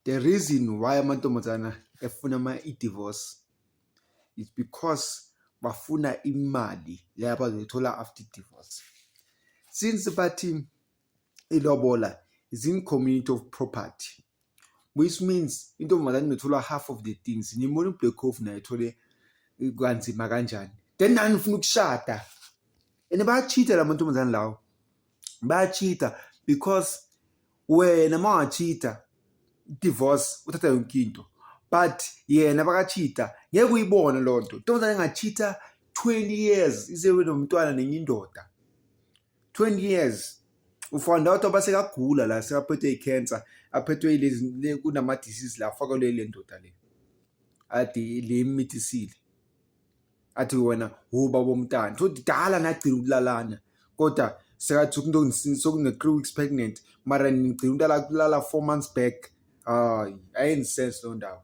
The reason why amantombazana efuna ama i-divorce is because bafuna imali le abazoyithola after divorce since bathi ilobola is in community of property which means intombazane inothola half of the things nimona ublack cof naye ethole kanzima kanjani then nani ufuna ukushada and bayachitha la mantombazane lawo bayachitha because wena mawachita divorce uthatha yonke into but yena bakachita ngeke uyibone loo nto ntombazane engachita 20 years isewe nomntwana nenye indoda 20 years ufanda out oba sekagula la sekaphethwe i-cancer aphethwe ilezi kunama-disease la afakelwe le ndoda le ade le mithi isile athi wena wubaba omntana futhi dala nagcina ukulalana kodwa sekathi sokunge-three weeks pregnant mara nigcina ukulala kulala four months back hayi ayenzi sense loo ndawo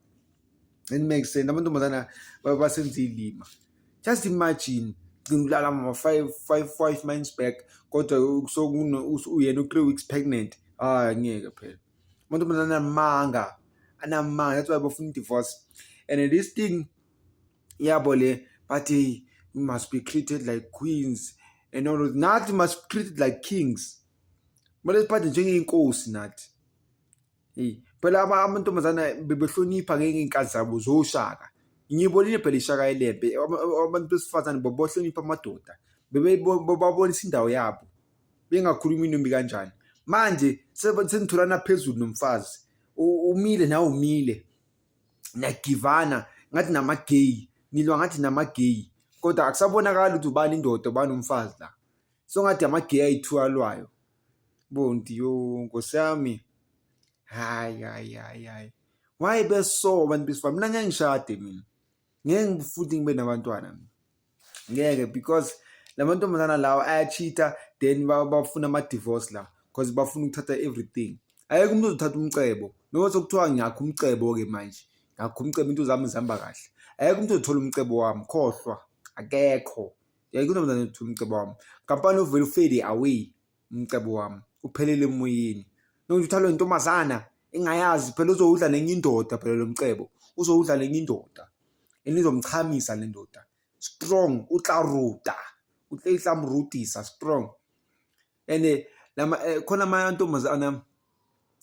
and make sense amantombazana basenza iy'lima just imagine gcina ukulala mama five five five months back kodwa uyena u-three weeks pregnant hayi ngeke phela amantombazana anamanga anamanga that's why bafuna i-divorce and this thing yabo le but hey we must be treated like queens and all of nathi must be treated like kings kumele siphathe njengey'nkosi nathi eyi phela amantombazana bebehlonipha ngey'nkazi zabo zoshaka ngiyibonile phela ishaka elembe abantu besifazane bobohlonipha amadoda babonisa indawo yabo bengakhulumi inombi kanjani manje senitholana phezulu nomfazi umile nawe umile niyagivana ngathi namageyi nilwa ngathi namageyi kodwa akusabonakali ukuthi ubani indoda ubani umfazi la so ngathi amageyi ayi-two alwayo bonti yo nkosi yami hayi hayi hayi hayi why beso abantu besifana mina ngeke ngishade mina ngeke futhi ngibe nabantwana ngeke because lamantombazana lawa ayachitha then bafuna ama divorce la because bafuna ukuthatha everything ayeke umuntu ozothatha umcebo noma sokuthiwa ngiyakho umcebo ke manje ngakho umcebo into zami zihamba kahle ayeke umuntu ozothola umcebo wami khohlwa akekho yayike untombazane othola umcebo wami kampani uvele ufade away umcebo wami uphelele emoyeni nokuthi uthalwe intombazana engayazi phela uzowudla nenye indoda phela lo mcebo uzowudla nenye indoda enizomchamisa le ndoda strong utlaruta utlayihlamrutisa strong and eh, lama eh, khona amantombazana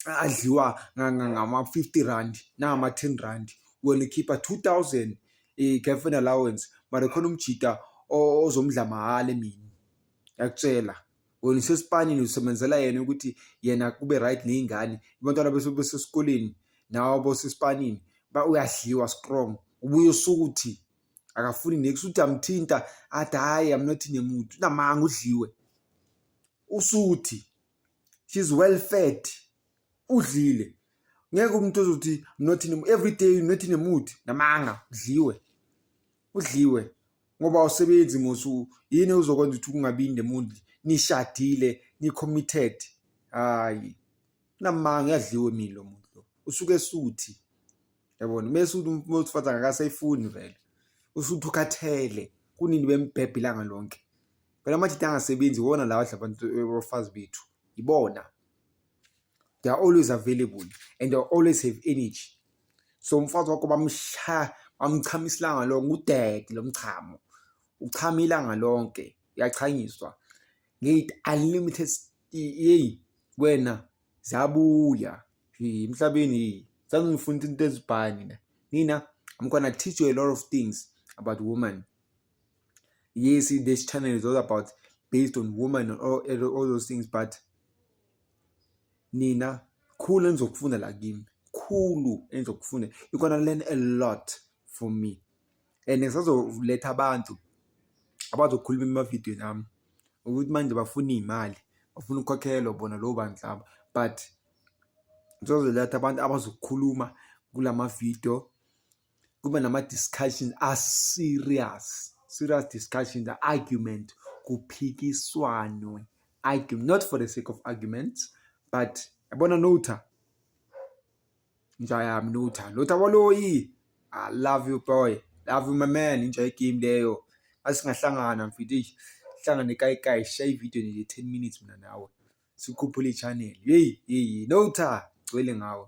adliwa ngama-50 rand nangama-10 rand wena ukhipha 2000 i-girlfriend allowance mara khona umjita ozomdla mahhala emini yakutshela wena usesipanini usebenzela yena ukuthi yena kube right nezingane abantwana bese besesikoleni nawe bosesipanini ba uyadliwa strong ubuye usuku uthi akafuni next uthi amthinta athi hayi i'm not in a mood unamanga udliwe usuthi she's well fed udlile ngeke umuntu ozothi not in every day not in a mood namanga udliwe udliwe ngoba awusebenzi mosu yini uzokwenza ukuthi kungabi in the mood nishadile ni-committed hayi namanga uyadliwe mina lo muntu lo usuke esuthi yabona mese uthi umuntu wesifazane akasayifuni vele usuthi ukhathele kunini bembhebhe ilanga lonke phela amajita angasebenzi iwona lawa adla abantu abafazi bethu ibona they are always available and they always have energy so umfazi wakho bamsha bamchama isilanga lonke udede lo mchamo uchama ilanga lonke uyachanyiswa ngithi unlimited yeyi wena zabuya emhlabeni sangifunda into ezibhani mina i'm gonna teach you a lot of things about woman yes this channel is all about based on woman and all, all those things but nina khulu engizokufunda la kimi khulu engizokufunda you're gonna learn a lot from me and ngisazoletha abantu abazokhuluma emavidiyweni ami ukuthi manje bafuna iy'mali bafuna ukukhokhelwa bona lowo bantu laba but ngisazoletha abantu abazokhuluma kula mavidiyo kube nama-discussion a-serious serious discussion the argument kuphikiswanwe argue not for the sake of arguments but yabona notha inja yami notha lotha waloyi i love you boy love you my man inja yegame leyo asingahlangana mfithu eish hlangane kayikayi shaya ividiyo nje 10 minutes mina nawe sikhuphule i-channel yeyi yeyi notha gcwele ngawe